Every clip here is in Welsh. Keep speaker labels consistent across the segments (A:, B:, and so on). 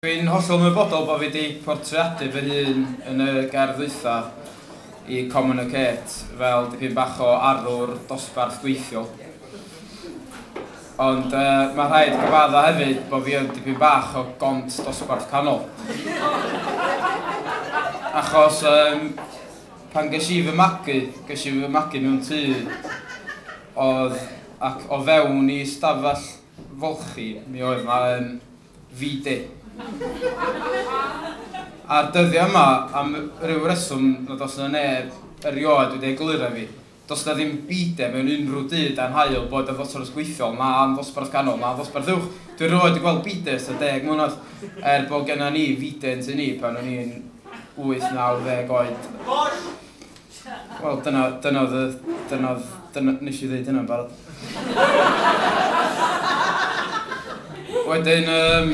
A: Dwi'n hollol ymwybodol bod fi 'di portreadu fy hun yn y gerdd ddwytha i Communicate fel dipyn bach o arwr dosbarth gweithiol. Ond mae rhaid cyfadda hefyd bod fi yn dipyn bach o gont dosbarth canol. Achos yym pan ges i fy magu, ges i fy magu mewn tŷ oedd ac o fewn i stafell folchi mi oedd 'na yym Vitae. A'r dyddiau yma, am ryw reswm nad oes yna neb erioed wedi egluro i fi, does yna ddim bide mewn unrhyw du dan haul, boed yn ddosbarth gweithiol na yn ddosbarth ganol na yn ddosbarth uwch. Dwi erioed wedi gweld bide ers tua deg mlynedd, er bod genna ni fide yn tŷ ni pan o'n i'n wyth, naw, ddeg oed. Wel, dyna, dyna oedd y, dyna oedd, dyna, nes i ddeud hynna'n barod. wedyn, um,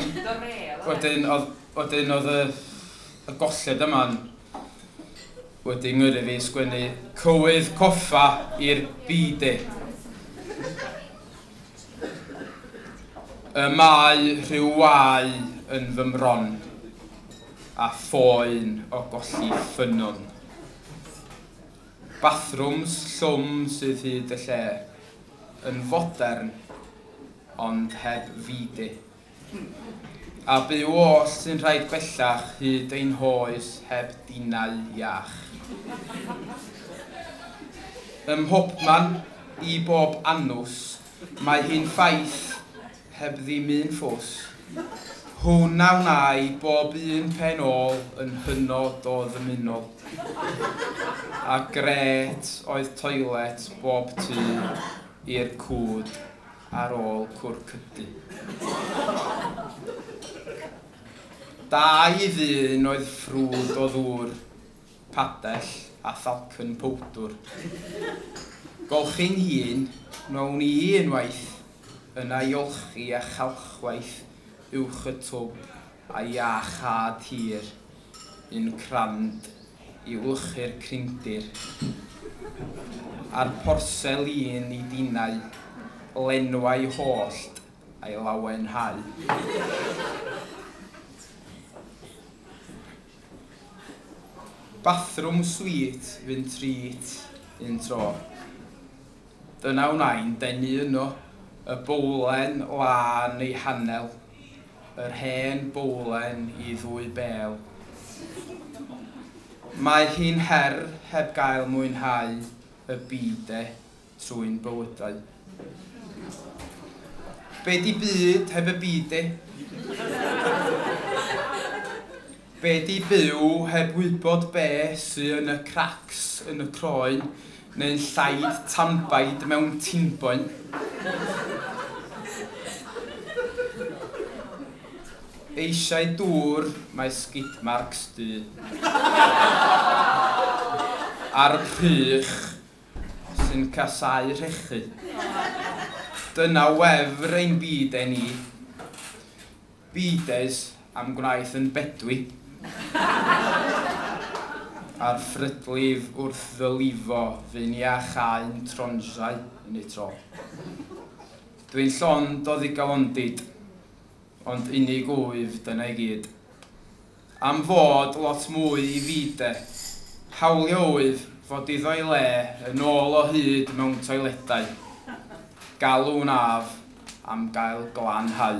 A: wedyn, oedd, wedyn oedd y, y golled yma'n wedi ngyrru fi sgwennu cywydd coffa i'r bide. Y mae rhyw wau yn fy mron. a phoen o golli ffynnon. Bathrwms llwm sydd hyd y lle, yn fodern ond heb fide. A byw oll sy'n rhaid bellach hyd ein hoes heb dinau iach. Ym mhobman, i bob anws, mae hi'n ffaith heb ddim un ffws. Hwn a wnâi bob un pen ôl yn hynod o ddymunol. A grêt oedd toilet bob tu i'r cwd ar ôl cwrw cydu. Dau ddyn oedd ffrwd o ddŵr padell a thalcen powdwr. Golchi'n hun, wnawn i unwaith yna i olchi a chalchwaith uwch y twb a iach had hir, un crand i wlychu'r crindir. A'r porsel un i dinau lenwau hollt a'i lawenhau. Bathroom sweet fyn treat un tro. Dyna wnai'n denu yno, y bowlen lân ei hanel, yr hen bowlen i ddwy bêl. Mae hi'n her heb gael mwynhau y byd de. trwy'n bywydau. Be di byd heb y byd de? Be di byw heb wybod be sy yn y cracs yn y croen neu'n llaid tanbaid mewn tinboen? Eisiau dŵr mae skid marks du. A'r rhych sy'n casáu rhechu. Dyna wefr ein byd-e ni. Byd-es am gwnaeth yn bedwi. A'r ffrydlif wrth ddylifo fu'n i a chaun tronsau yn eu tro. Dwi'n llond o ddigalondid, ond unig wyf, dyna i gyd. Am fod lot mwy i fi de. Hawlio oedd fod iddo ei le yn ôl o hyd mewn toiledau. Galw'n af am gael glanhau.